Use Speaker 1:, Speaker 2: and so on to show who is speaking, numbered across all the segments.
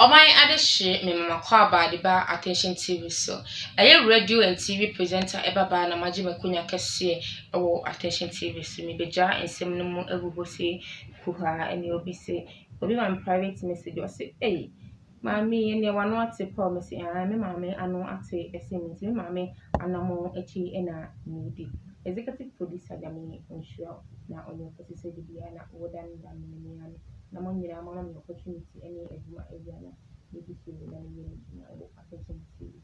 Speaker 1: Ɔman adehye memama kɔ aba de ba attention TV so. Ɛyɛ radio and TV presenter ɛba baa na magye makonya kɛseɛ ɛwɔ attention TV so. Mebɛgyaa nsɛm no mu agu hɔ sei kuhaa ɛne obi se obi ma me private message ɔse ei Maame yɛ nea w'ano ate paw. Mese aane, me maame ano ate sen me nti me maame anamɔn akyi na medi. Executive producer Nyame nhyira wo na ɔnyɛ wo kɛse sɛ de biara na wo da ne da no me nua no na mo nyinaa mo ama me opportunity ne adwuma awia na medi so na meyɛ m'adwuma wɔ Akwesem TV.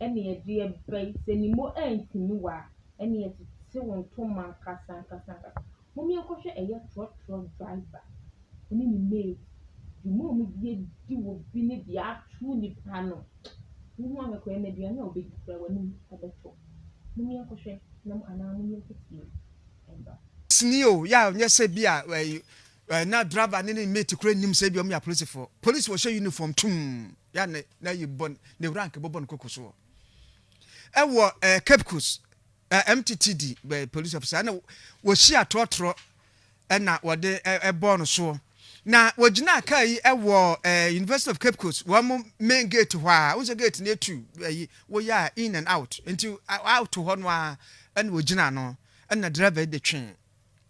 Speaker 1: ɛne ɛde ɛba yi sɛ ne mo antumi wa ɛne ɛtete wo ntoma ankasa ankasa ankasa mom yɛnkɔ hwɛ ɛyɛ trɔtrɔ driver ɛne ne mate dwuma a ɔmo de adi wɔ bi ne deɛ ato nipa no wohu ahwɛ koraa na aduane a ɔbɛdi koraa w'anim ɛbɛtɔ mom yɛnkɔ hwɛ na anaa mom yɛnkɔ tie ɛba. Sini o, yɛ a
Speaker 2: nyɛ sɛ bi a ɛyi Na driver ne ne mate koraa nnim sɛ ebia wɔyɛ apolisifoɔ. Polisi wɔhyɛ uniform tumm yɛ a na ayi bɔ ne rank bɔbɔ ne koko soɔ. Ɛwɔ eh, Cape Coast eh, MTTD eh, police officer ɛna wɔhyia atorɔtorɔ ɛna wɔde ɛbɔɔ no soɔ. Na wɔgyinaa kaa yi ɛwɔ eh, University of Cape Coast wɔn mo main gate hɔ a, wosɛ gate no etu ɛyi woyɛ a in and out nti out hɔ no a ɛna wɔgyinaa no ɛna driver yi de twee.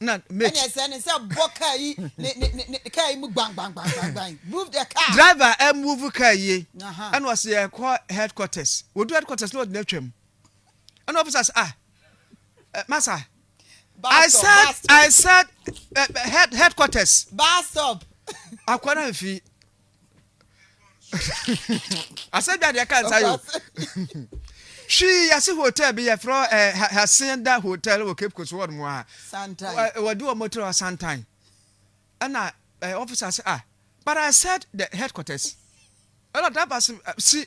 Speaker 2: na make. Ɛne ɛsɛ ne sɛ bɔ
Speaker 3: car yi ne ne ne ne car yi mu gban gban gban gban gban move the car. Driver ɛ move car
Speaker 2: yie ɛna ɔsi yɛ kɔ headquarters wɔdu headquarters na ɔdi na twam ɛna officer sɛ ah eh, masa I said I said eh, head headquarters. Bus stop.
Speaker 3: Akwa na nfi.
Speaker 2: asɛ dwa deɛ ka nsa yo hwii yɛse hotel bi yɛfrɛ eh, hasenda hotel wɔ cape coast ward mu a wɔde wɔ
Speaker 3: motrɛ wɔ
Speaker 2: santan ɛna eh, officer sɛ ah but i said the headquarters ɛna driver se ah, si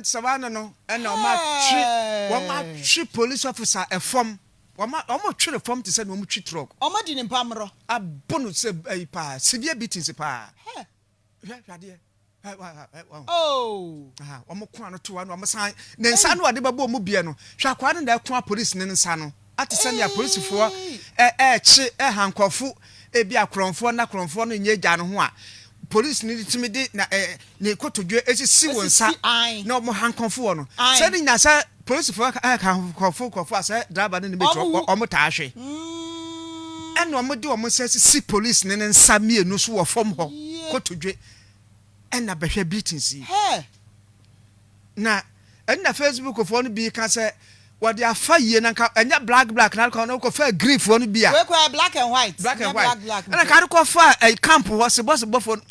Speaker 2: nsɛmma no no ɛna wɔn atwe wɔn atwe police officer ɛfam wɔn wɔn twe ne fam te sɛ na wɔn twe truck. wɔn adi ne mpamrɔ.
Speaker 3: abo no sɛ
Speaker 2: ɛyi paa severe beatings paa. Hwɛ hwɛ adeɛ. Oh. Ah, wɔn ko ano to ano, wɔn san ne nsa no wɔde bɛbɔ wɔn bia no. Hwɛ akwadaa no na ɛko apolisi ne nsa no. Ate sɛ nea polisifoɔ ɛɛkye ɛha nkorɔfo ebi akorɔnfoɔ na korɔnfoɔ no nyɛ agya no ho a polisi no tumi de na ɛɛ ne kotodwe esisi wɔn nsa na wɔn hankɔnfoɔ no. Sɛ ne nyinaa sɛ. Polisifo ka nkurɔfo nkurɔfo a sɛ driver no nim akyi a wɔtaa hwe, ɛnna wɔde wɔn nsa sisi polisini no nsa mmienu so wɔ fam hɔ kotodwe, ɛnna bɛhwɛ beatings yi. Na ɛnna Facebookfoɔ no bi ka sɛ wɔde afa yie na nka ɛnyɛ black black na adekɔ no kɔfa agrifoɔ no bi a. Wei koraa black and white.
Speaker 3: Black and white. Ɛnna nka
Speaker 2: adekɔ fa camp hɔ sebɔsebɔfoɔ no.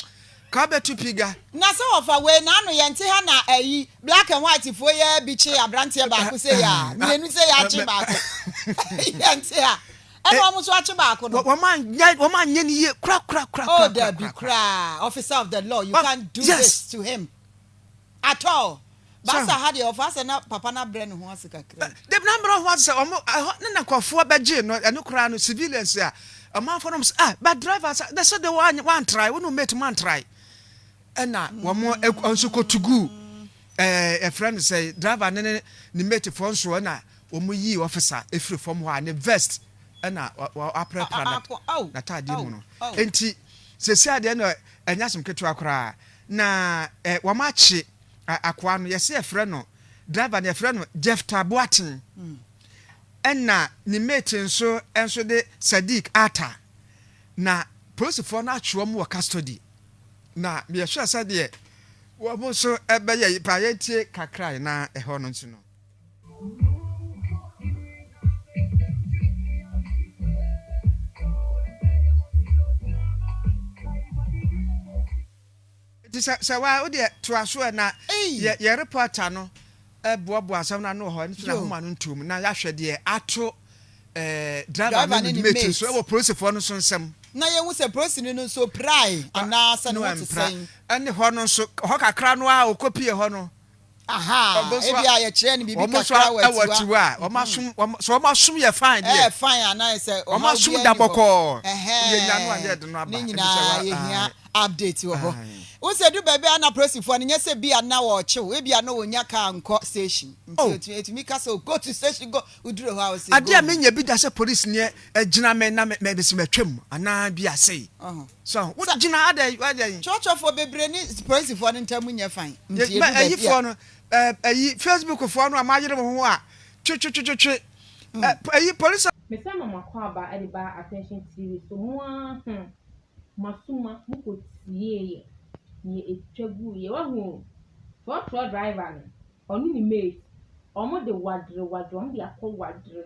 Speaker 2: Ka bɛtu piga. Na sɛ wɔfa wei
Speaker 3: na ano yɛnte ha na ayi black and white foɔ yi ara bi kye abranteɛ baako sei a mmienu sei akye baako yɛnte ha ɛna wɔn nso akye baako no Wɔn anyɛ wɔn
Speaker 2: anyɛ ne yie kora kora kora oh kora kora dabi kora.
Speaker 3: koraa officer of the law you Wɔn- can't do yes. this to him At all. Baasa ha deɛ ɔfaa sɛ na papa no abrɛ ne ho ase kakra yi. Dabi na abrɛ ho ase
Speaker 2: sɛ ɔmo ɛhɔ ne na nkorɔfoɔ bɛgyee no ɛno koraa no civilians a ɔmanfoɔ nom sɛ ah but driver sɛ dɛ sɛ dɛ wantrae wo ne wo mate mo antrae ɛna wɔmo nso kɔ tuguu ɛɛ yɛfrɛ no sɛ driver ne ne mate foɔ nso ɛna wɔmo yii officer efiri fam hɔ a ne vest ɛna wapra pra na taadeɛ mu no enti sɛsi adeɛ no ɛnyɛ asem ketewa koraa Na eh wɔn akye ah akoa no yɛse yɛfrɛ no driver no yɛfrɛ no Jephta Boateng ɛna ne mate nso nso de Sadiq Atta na polisifoɔ no atwe wɔn wɔ custody na yɛhwɛ sɛdeɛ wɔn nso bɛyɛ yi paa yɛntie kakrae na ɛhɔ no nso no. nti sɛ sɛ waa wodeɛ toa so ɛ na yɛ yɛ reporter no ɛboaboa asɛm no ano wɔ hɔ ɛno nti na homa no ntom na yɛahwɛ deɛ ato ɛɛ driver no ne mate nso ɛwɔ polisifoɔ no nso nsɛm na yɛhu sɛ polisini
Speaker 3: no nso pirae anaasɛ ne ho te sɛn ɛne hɔ no nso
Speaker 2: hɔ kakra no a ɔkɔpie hɔ no Ahaa,
Speaker 3: ebia yɛkyerɛɛ no biribi kakra wɔ akyiwa.
Speaker 2: Sɛ wɔasom yɛ fine deɛ. Ɛyɛ fine anaa sɛ
Speaker 3: ɔhaw bi ani hɔ.
Speaker 2: Ɛhɛn,
Speaker 3: ne
Speaker 2: nyinaa yɛhia
Speaker 3: update wɔ hɔ. Wohu sɛ ɛduru baabi a na apolisifoɔ no nyɛ sɛ bi a na wɔrekyew, ebia na wɔnnya kaa nkɔ station. Nti ɛtumi ka sɛ o go to station go, woduru hɔ a wɔse go. Adeɛ a menya bi da sɛ
Speaker 2: polisini gyina me na mese matwam anaa bi a sei. So wode gyina ha dɛn? Woayɛ dɛn? Kyerɛkyerɛfoɔ
Speaker 3: bebree ne polisfoɔ no ntam nyɛ fann nti ɛdu baabi a. Ayifoɔ
Speaker 2: no, ayi Facebookfoɔ no a moayere mo ho a, twetwetwetwe ayi polis. Mesan ma m'akwaaba
Speaker 1: de baa Attention TV so mo ara ho masuma mo kɔ tieeɛ deɛ ɛtwa guiɛ wahu o trɔtrɔ driver no ɔne ne mate wɔn de wadere wadere wɔn de akɔ wadere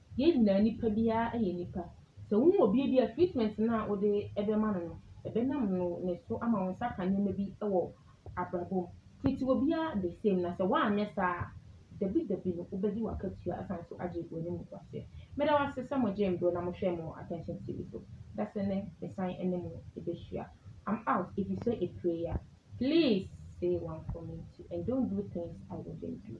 Speaker 1: yɛn nyinaa nipa biara yɛ nipa. Sɛ wo hu obi a ebi a treatment no a wode bɛma no no, ɛbɛnam no ne so ama wo nsa aka nneɛma bi wɔ abrabɔ mu. Treat obiara the same na sɛ woanyɛ saa a, dabi dabi no wobɛgye w'akatua asan nso agye w'animguaseɛ. Meda mo ase sɛ mogyee me berɛ na mohwɛɛ me wɔ Attention TV so. Da sɛ nnɛ mesan ne mo bɛhyia. I'm out ɛfiri sɛ ɛpire ya. Please say one for me too and don't do things I wouldn't do.